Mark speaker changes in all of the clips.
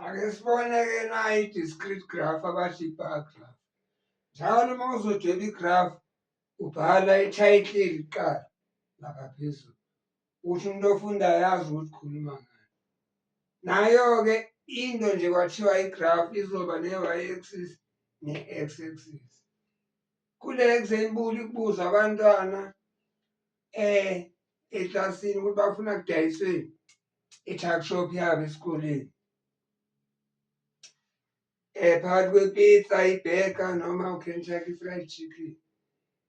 Speaker 1: ake sibone-ke nayo i-discrete graph abathi i-bar graph njalo uma uzodweba i-graph ubhala i-title kuqala lapha phezulu ukuthi umuntu ofundayo yazi ukuthi khuluma ngani nayo-ke into nje kwathiwa i-graph izoba ne-y axis ne-x axis kule-x enkulu ikubuza abantwana eh eklasini ukuthi bafuna kudayiswe i-tuck shop yabo esikoleni eh phakathi kwepizza ibheka noma ukentucky fried chicken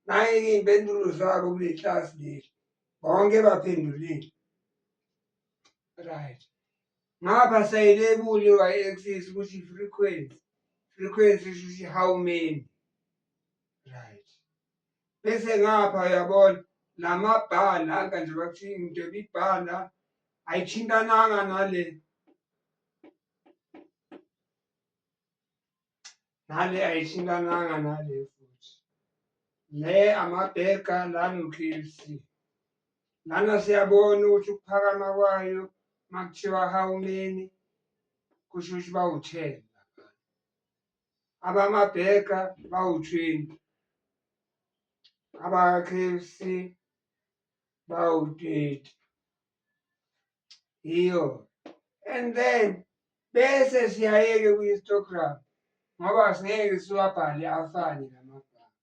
Speaker 1: naye-ke iy'mpendulo zabo kule klasi leli bonke baphendulile right ngapha sayilebuli y-axis ukuthi frequency frequency shuthi how many right bese ngapha uyabona namabhala aka nje bakuthi into ibibhala ayithintananga nale nale ayithintananga nale futhi le amabheka la no-KLC lana siyabona ukuthi ukuphakama kwayo makuthiwa hawumeni kusho ukuthi bawuthela abamabheka bawu-20 abaka-KFC bawu-30 yiyo and then bese siyayeke kwi-histogram ngoba singeke siwabhale afane lamagama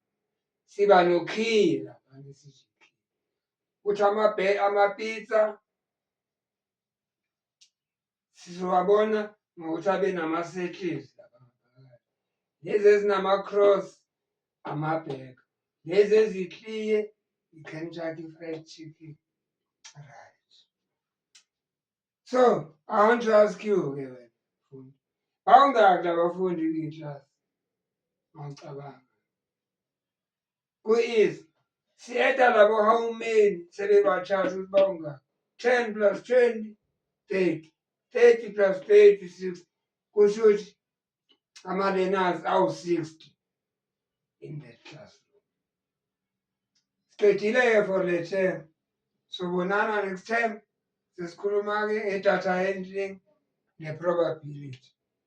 Speaker 1: siba nokhiye lapha ngesijiki ukuthi amapizza sizowabona ngokuthi abe nama-settles lezi ezinama-cross amabhek lezi ezikliye i-kentucky fried chicken right so i want to ask you ke wena fundi bawungaki labafundi kwiyi-class mawucabanga ku-easy siyeda labo how many sebebachasha ukuthi bawungaki ten plus twenty thirty thirty plus thirty sixty kusho ukuthi ama-learners awu-sixty in that class siqedile-ke for le term sobonana next term sesikhuluma-ke ngedatha handling ne-probability